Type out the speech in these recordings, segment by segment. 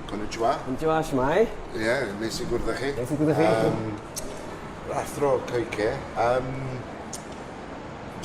Konnichiwa. Konnichiwa, shwmae? Ie, yeah, nes i gwrdd â chi. Nes i gwrdd â chi. Um, athro Coike. Um,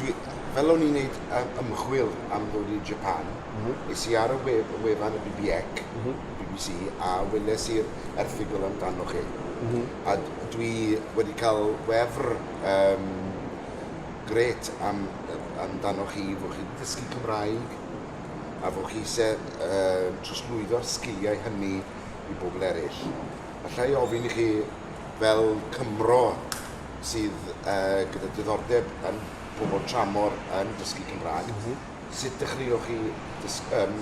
dwi, fel o'n i'n neud ymchwil am ddod i Japan, mm -hmm. es i ar y wef, y wefan y BBEC, mm -hmm. BBC, a weles i'r erthigol amdano chi. Mm -hmm. A dwi wedi cael wefr um, gret am, amdano chi, fod chi wedi dysgu Cymraeg, a fo chi sydd yn trosglwyddo'r sgiliau hynny i bobl eraill. Alla i ofyn i chi, fel Cymro sydd uh, gyda diddordeb yn pobl tramor yn dysgu Cymraeg, mm -hmm. sut dechreuoch chi dysg, um,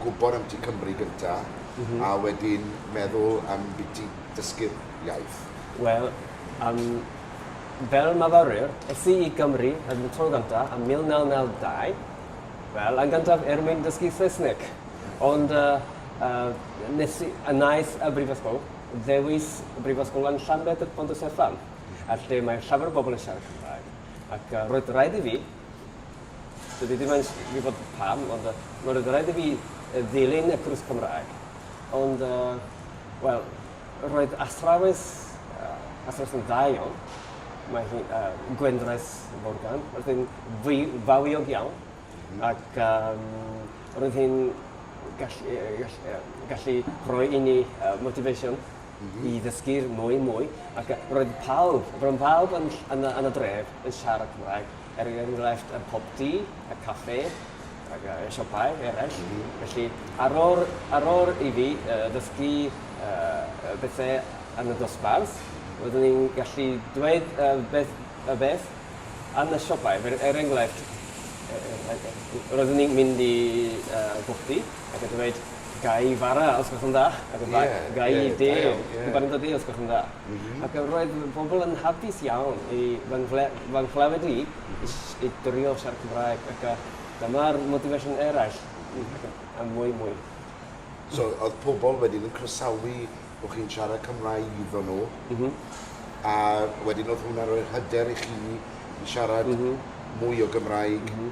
gwybod am ti Cymru gyntaf mm -hmm. a wedyn meddwl am beth ti dysgu'r iaith? Wel, um, fel myfyrwyr, es i i Gymru yn y tro gyntaf yn 1992, Wel, yn gyntaf er mwyn dysgu Saesneg. Ond yy yy nes i... A wnaeth y brifysgol ddewis Brifysgol yn Llanbedr Pont y Sefan, a lle mae llawer o bobl yn siarad Cymraeg. Ac yy roedd raid i fi, dydw i ddim yn gwybod pam, ond yy roedd raid i fi ddilyn y cwrs Cymraeg. Ond yy wel, Roedd athrawes athrawes yn dda iawn. Mae hi yy Gwendraeth Morgan. Roedd hi'n fwy fawiog iawn. M-hm. Ac yym roedd hi'n gall- yy gall- yy gallu rhoi i ni yy motivation. M-hm. I ddysgu'r mwy mwy ac yy roedd pawb ro'n pawb yn ll- yn y yn y dref yn siarad Cymraeg. er enghraifft yn Pop Tea, y café, ac y siopau eraill. Mm -hmm. Felly, ar ôl, ar ôl i fi uh, ddysgu uh, bethau yn y dosbarth, roeddwn i'n gallu dweud uh, beth, y beth yn y siopau. Er, er enghraifft, roeddwn i'n mynd i uh, bwchdi ac yn dweud gai fara os gwelwch yn dda, ac yn yeah, gai yeah, de, yeah. yn dod i os gwelwch yn dda. Ac yy roedd y bobl yn hapus iawn i fy nghle- fy nghlywed i i s- i drio siarad Cymraeg ac yy dyma'r motivation eraill i ac yn a mwy mwy. So o'dd pobl wedyn yn croesawu bo' chi'n siarad Cymraeg iddo nhw? M-hm. A wedyn o'dd hwnna'n rhoi'r hyder i chi i siarad... M-hm. ...mwy o Gymraeg? M-hm.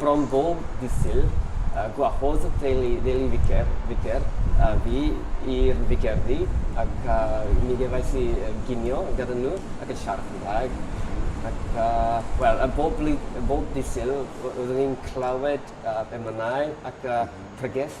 Bron bob dydd Sul, gwahodd y teulu Deli Ficer, Vicker, a fi i'r Ficerdy, ac mi gefais i ginio gyda nhw ac yn siarad Cymraeg. Ac, wel, bob blwydd- bob dydd Sul, roeddwn i'n clywed emynau ac pregeth.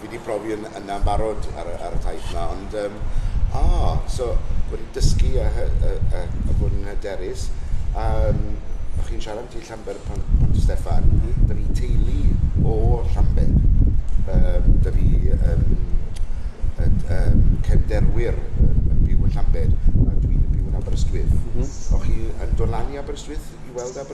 Fi di profi yn yna'n barod ar y ar y taith yma ond yym o so bod yn dysgu a hy- yy yy a bod yn hyderus a yym o' chi'n siarad ambyti Llanber Pont Pont y Steffan da fi teulu o Llanber yym da fi yym yy yym cefnderwyr yn yn byw yn Llanber a dwi'n yn byw yn Aberystwyth o' chi yn dod lan i Aberystwyth i weld Aberystwyth?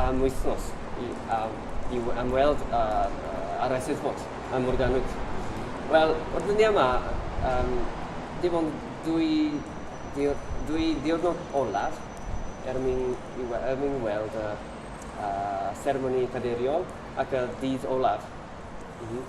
am wythnos i am i am weld yr uh, yr Eisteddfod ym Morgannwg. Wel, o'r dyddiau yma, um, dim ond dwy, diwr, dwy diwrnod olaf er mwyn, i, er mwyn weld y uh, seremoni cadeiriol ac y dydd olaf. Mm -hmm.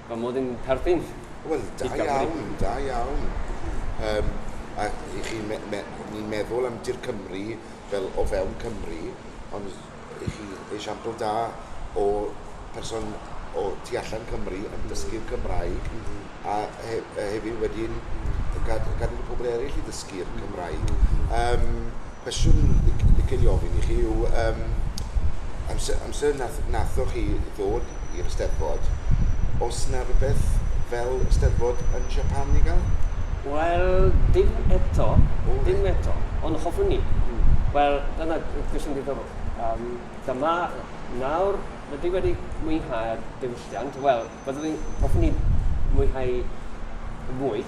Mae modd yn perthyn Wel, da i Gymru. iawn, da iawn. Um, a i chi, me, me, ni'n meddwl am Dir Cymru fel o fewn Cymru, ond i chi esiampl da o person o tu allan Cymru yn dysgu'r Cymraeg, mm -hmm. a, he, a hefyd wedyn gad, gadw'r pobl eraill i ddysgu'r Cymraeg. Um, Cwestiwn dwi'n licio ei ofyn i chi yw yym amser amser wnaeth wnaethoch chi ddod i'r Eisteddfod, oes 'na rywbeth fel Eisteddfod yn Japan i gael? Wel, dim eto, dim eto, ond hoffwn i. Wel, dyna cwestiwn diddorol. Yym, dyma nawr, rydw i wedi mwynhau'r diwylliant. Wel, byddwn i'n... hoffwn i mwynhau mwy.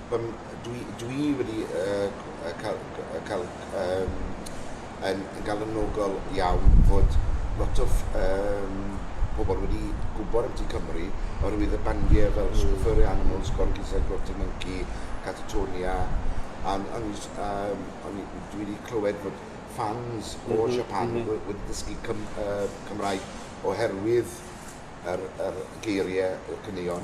Yym dwi dwi wedi yy yy ca'l yy ca'l yym yn yn galonogol iawn fod lot o ff- yym pobol wedi gwbod am Tŷ Cymru oherwydd y bandie fel Sw- Furry Animals, Gorky Said Grotty Monkey, Catatonia, a n- o'n i js- yym o'n i dwi wedi clywed bod ffans o Siapan... M-hm m-hm. ...we- wedi dysgu Cym- yy Cymraeg oherwydd yr yr geirie, y caneuon.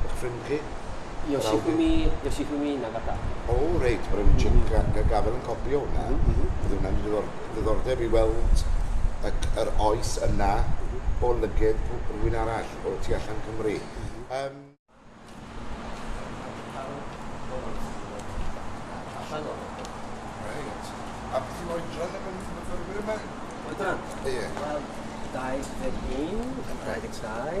Eich ffrind chi? Yoshifumi, Yoshifumi Nagata. O, reit, mae'n rhaid i Jim mm. Gafel yn copi o hwnna. Mm -hmm. Bydd hwnna'n ddiddordeb i weld y, yr oes yna mhm. o lyged rhywun arall o tu allan Cymru. Um, A beth yw'n oedran yn myfyrwyr yma? Oedran? Ie. Wel, 21, 22,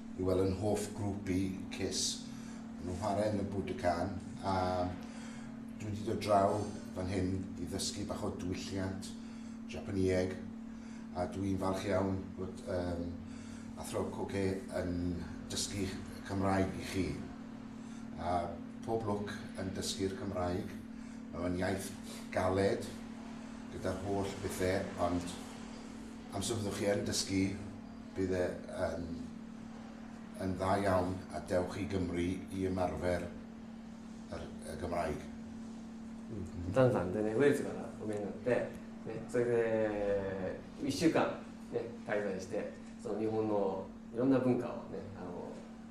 i weld yn hoff grŵp i, Kiss. Maen nhw'n chwarae yn y Budokan a dwi wedi dod draw fan hyn i ddysgu bach o dwylliant Japanieg a dwi'n falch iawn bod um, Athro Coge yn dysgu Cymraeg i chi. A pob lwc yn dysgu'r Cymraeg. Mae'n iaith galed gyda'r holl bethau ond amser byddwch chi yn dysgu bydd e yn yn dda iawn a dewch i Gymru i ymarfer yr, y Gymraeg. Mm. Dan dan, dyna wir ti'n gwneud, o mynd yn deg. Ne, so ydy, i siwgan, ne, cael ei ddweud, so ni hwn o, i rhywun ar bwncau, ne, a o,